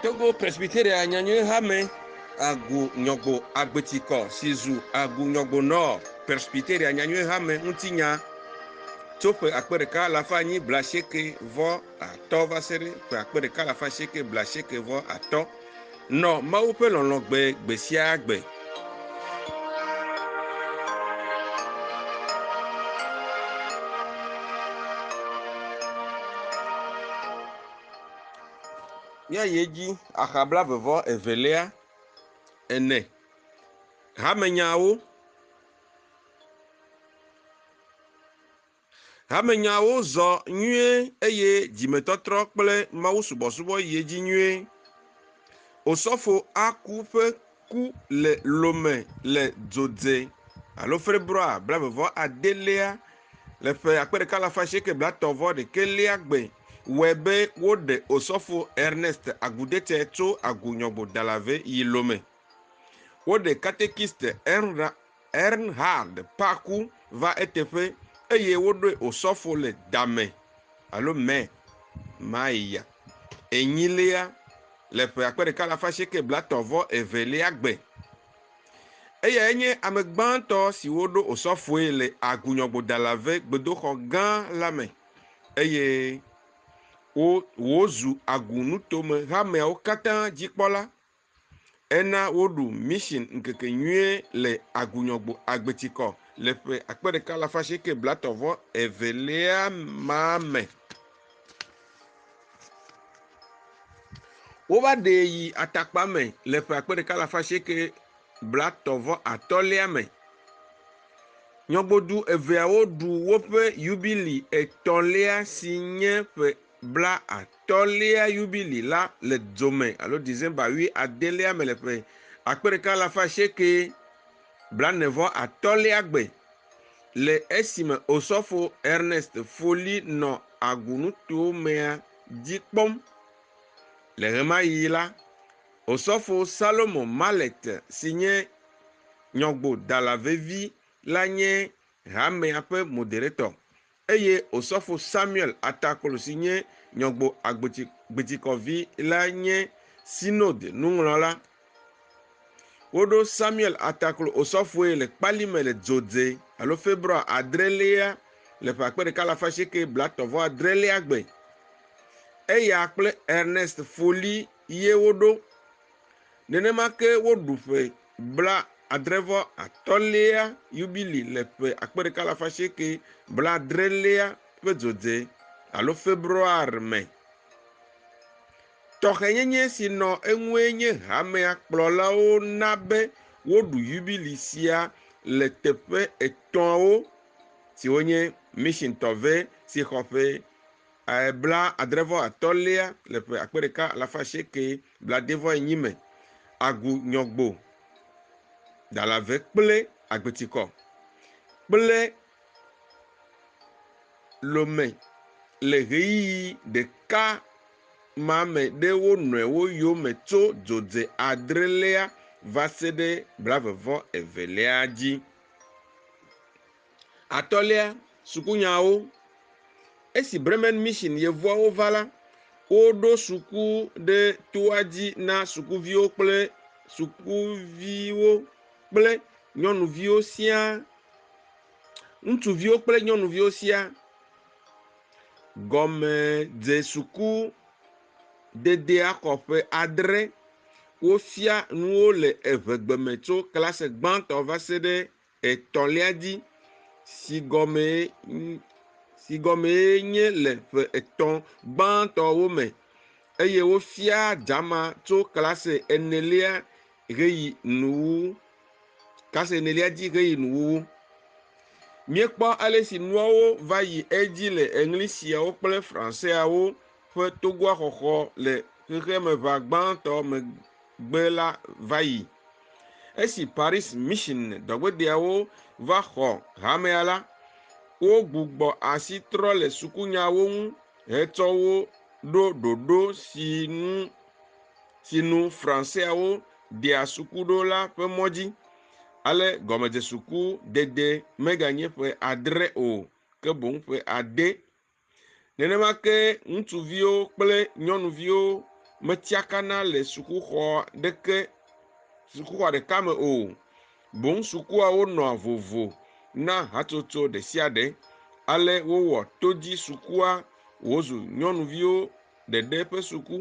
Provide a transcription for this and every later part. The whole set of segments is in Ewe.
Togo Presbyteria nyanyui hame agu nyɔgbo agbetikɔ si zu agu nyɔgbo nɔ Presbyteria nyanyui hame ŋuti nya tso ƒe akpe ɖeka alafa anyi blaasieke vɔ atɔ va se ɖe ƒe akpe ɖeka alafa asieke blaasieke vɔ atɔ. Nɔ Mawu ƒe lɔlɔ̃ gbe gbe sia gbe. Míayi edzi axa blavevɔ evelia ene. Hamenyawo. Hamenyawo zɔ nyuie eye dzimetɔtrɔ kple mawusubɔsubɔ yi edzi nyuie. Osɔfo Aku ƒe ku le Lome le dzodze alo Februar blaeve vɔ adelia le ƒe akpe ɖeka alafa asieke blatɔ̃ vɔ ɖekelia gbe wɔe be woɖe Osɔfo Ernest Agudete tso Agu Nyɔgbo Dalave yi Lome. Woɖe Katekist Enra Ernhard Paku va eteƒe eye woɖoe osɔfo le Dame alo Mɛ Maya enyilia le ƒe akpe ɖeka alafa asieke blatɔ̃ vɔ evelia gbe. Eyae nye ame gbãtɔ si woɖo osɔfoe le Agunyɔgbodalave gbedoxɔ gã la me eye wòzu Agu nutome hameawo katã dzikpɔla Ena woɖu Mission ŋkekenyuie le Agunyɔgbo Agbetikɔ le ƒe akpe ɖeka alafa asieke blatɔ vɔ evelia ma me. Wova ɖee yi atakpa me le ƒe akpe ɖeka alafa asieke blatɔ vɔ atɔ̃lia me. Nyɔgbodu eveawo ɖu woƒe yubili etɔ̃lia si nye ƒe blaatɔ̃lia yubili la le dzome alo December wui adelia me le ƒe akpe ɖeka alafa asieke blane vɔ atɔ̃lia gbe le esime Osɔfo Ernest Foley nɔ agunutowo mea dzi kpɔm. Le ɣemaɣi la, Osɔfo Salomo Mallet si nye nyɔgbodala vevi la nye hamea ƒe moderetɔ. Eye Osɔfo Samuel Ataklo si nye Nyɔgbo Agboti Gbitikɔ vi lae nye Synode nuŋlɔla. Woɖo Samuel Ataklo Osɔfoe le kpali me le Dzodze alo Februa adrelia le ƒe akpe ɖeka alafa asieke blatɔ̃ vɔ adrelia gbe. Eya kple Ernest Foley ye woɖo Nenema ke woɖu ƒe blaadre-vɔ-atɔ̃lia Yubili le ƒe akpe ɖeka alafa asieke blaadrelia ƒe dzodze alo February me. Tɔxɛnyenye si nɔ eŋue nye hamea kplɔlawo na be woɖu Yubili sia le teƒe etɔ̃awo siwo nye Mission Tɔve si xɔ ƒe blaadre-vɔ-atɔ̃lia le ƒe akpe ɖeka alafa asieke blaade-vɔ-enyi me, Agu Nyɔgbo, Dalave kple Agbetikɔ kple Lome le ɣeyiɣi ɖeka ma me ɖe wo nɔewo yome tso dzodze adrelia va se ɖe blaeve-vɔ-evelia dzi. Atɔ̃lia, sukunyawo. Esi Bremen Mission yevuawo va la, woɖo suku ɖe toa dzi na sukuviwo kple sukuviwo kple nyɔnuviwo siaa, ŋutsuviwo kple nyɔnuviwo siaa. Gɔmedzesuku dedea xɔ ƒe adre. Wofia nuwo le evegbeme tso klase gbãtɔ va se ɖe etɔ̃lia dzi, si gɔmee, si gɔmee nye le ƒe etɔ̃ gbãtɔwo me, eye wofia dama tso klase enelia ʋeyi nuwuwu, klase enelia dzi ʋeyi nuwuwu. Míekpɔ ale si nuawo va yi edzi le eŋli siawo kple Franseawo ƒe togoa xɔxɔ le Xexemeʋa Gbãtɔ megbe la va yi. Esi Paris Mission dɔgbedeawo va xɔ hamea la, wogbugbɔ asi trɔ le sukunyawo ŋu hetsɔ wo ɖo ɖoɖo si nu si nu Franseawo ɖea suku ɖo la ƒe mɔ dzi. Ale gɔmedzesuku dede meganye ƒe adre o, ke boŋ ƒe ade Nenema ke ŋutsuviwo kple nyɔnuviwo metsiakana le sukuxɔ ɖeke sukuxɔ ɖeka me o. Boŋ sukuawo nɔa vovo na hatsotso ɖe sia ɖe. Ale wowɔ to dzi sukua wòzu nyɔnuviwo ɖeɖe ƒe suku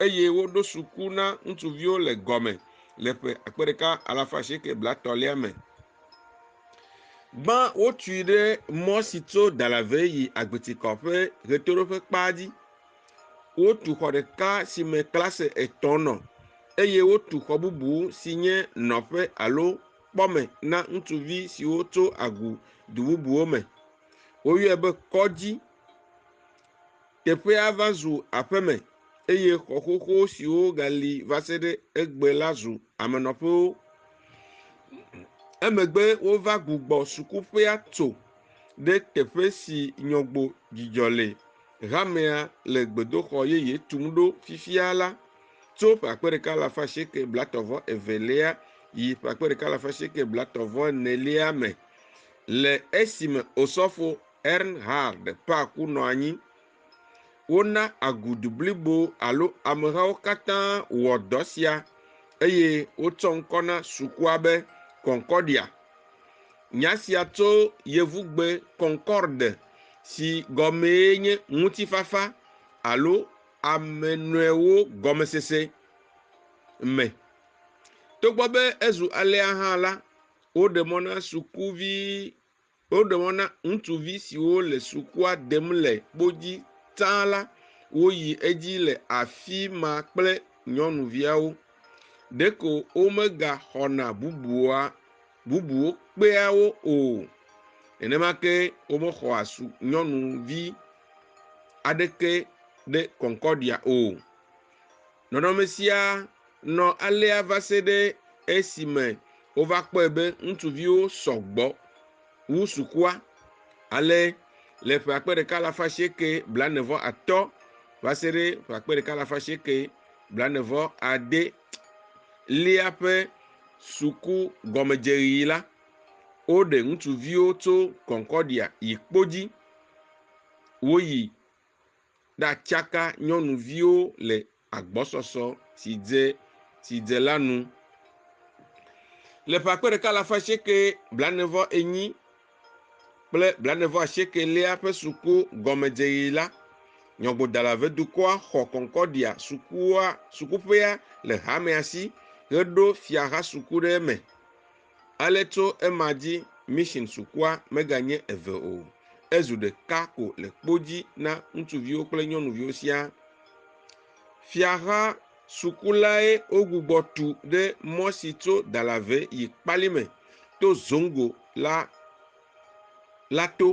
eye woɖo suku na ŋutsuviwo le gɔme le ƒe akpe ɖeka alafa asieke blatɔ̃lia me. Gbã wotui ɖe mɔ si tso Dalavɛ yi Agbetikɔ ƒe ʋetoɖoƒe kpa dzi. Wotu xɔ ɖeka si me klase etɔ̃ nɔ eye wotu xɔ bubu si nye nɔƒe alo kpɔme na ŋutsuvi siwo tso agu du bubuwo me. Woyɔe be kɔdzi. Teƒea va zu aƒeme, eye xɔ xoxo siwo gali va se ɖe egbe la zu amenɔƒewo. Emegbe wova gbugbɔ sukuƒea tso ɖe teƒe si nyɔgbo dzidzɔ le hamea le gbedoxɔ yeye tum ɖo fifia la tso ƒe akpe ɖeka alafa asieke blatɔ vɔ evelia yi ƒe akpe ɖeka alafa asieke blatɔ vɔ enelia me le esime Osɔfo Ernhard Park nɔ anyi. Wona agudu blibo alo amehawo katã wɔ dɔ sia eye wotsɔ ŋkɔ na sukua be Concordia. Nya sia tso Yevugbe concorde si gɔmee nye ŋutifafa alo ame nɔewo gɔmesese me. Togbɔ be ezu alea hã la, woɖe mɔ na sukuvi Woɖe mɔ na ŋutsuvi siwo le sukua dem le kpo dzi tsã la woyi edzi le afi ma kple nyɔnuviawo. Ɖeko womegaxɔna bubua, bubuwo kpea wo o. Nenema ke womexɔa su nyɔnuvi aɖeke ɖe Concordia o. Nɔnɔme sia nɔ alea va se ɖe esime wova kpɔe be ŋutsuviwo sɔ gbɔ wu sukua. Ale le ƒe akpe ɖeka alafa asieke blaene-vɔ atɔ va se ɖe ƒe akpe ɖeka alafa asieke blaene-vɔ ade lia ƒe suku gɔmedzeɣi la, woɖe ŋutsuviwo tso Concordia yi kpo dzi woyi ɖatsaka nyɔnuviwo le agbɔsɔsɔ si dze si dze la nu. Le ƒe akpe ɖeka alafa asieke blaenevɔ enyi kple blaenevɔ asiekelia ƒe suku gɔmedzeɣi la, nyɔgbodala vedukɔa xɔ Concordia sukua sukuƒea le hamea si heɖo fiaha suku ɖe eme. Ale tso ema dzi mission sukua meganye eve o, ezu ɖeka ko le kpo dzi na ŋutsuviwo kple nyɔnuviwo siaa. Fiaha sukulae wogbugbɔ tu ɖe mɔ si tso Dalave yi Kpali me to Zongo la la to,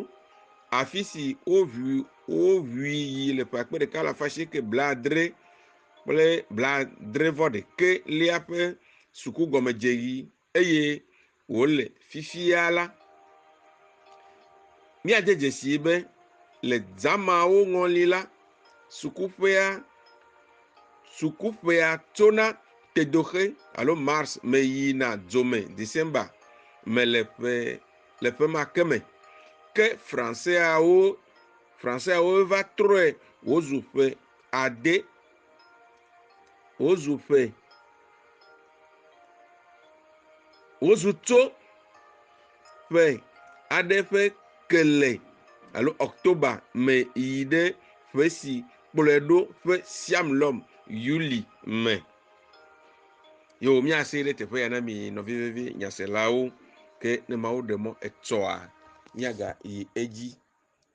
afi si woʋui woʋui yi le ƒe akpe ɖeka alafa asieke blaadre kple blaadre-vɔ-ɖekɛ lia ƒe sukugɔmedzeɣi eye wòle fifia la, míade dzesii be le zãmawo ŋɔli la, sukuƒea, sukuƒea tsona Tedoxe alo Mars me yina Dzome, December, me le ƒe le ƒe ma ke me. Ke Franseawo Franseawo va trɔe wòzu ƒe ade wozu ƒe wozu to ƒe aɖe ƒe kele alo october me yi ɖe ƒe si kplɔe ɖo ƒe siam lɔm yuli me yewo miase ɖe teƒe ya na mi nɔvi vevi nyaselawo ke ne mawo ɖe mɔ etsɔa miaga yi edzi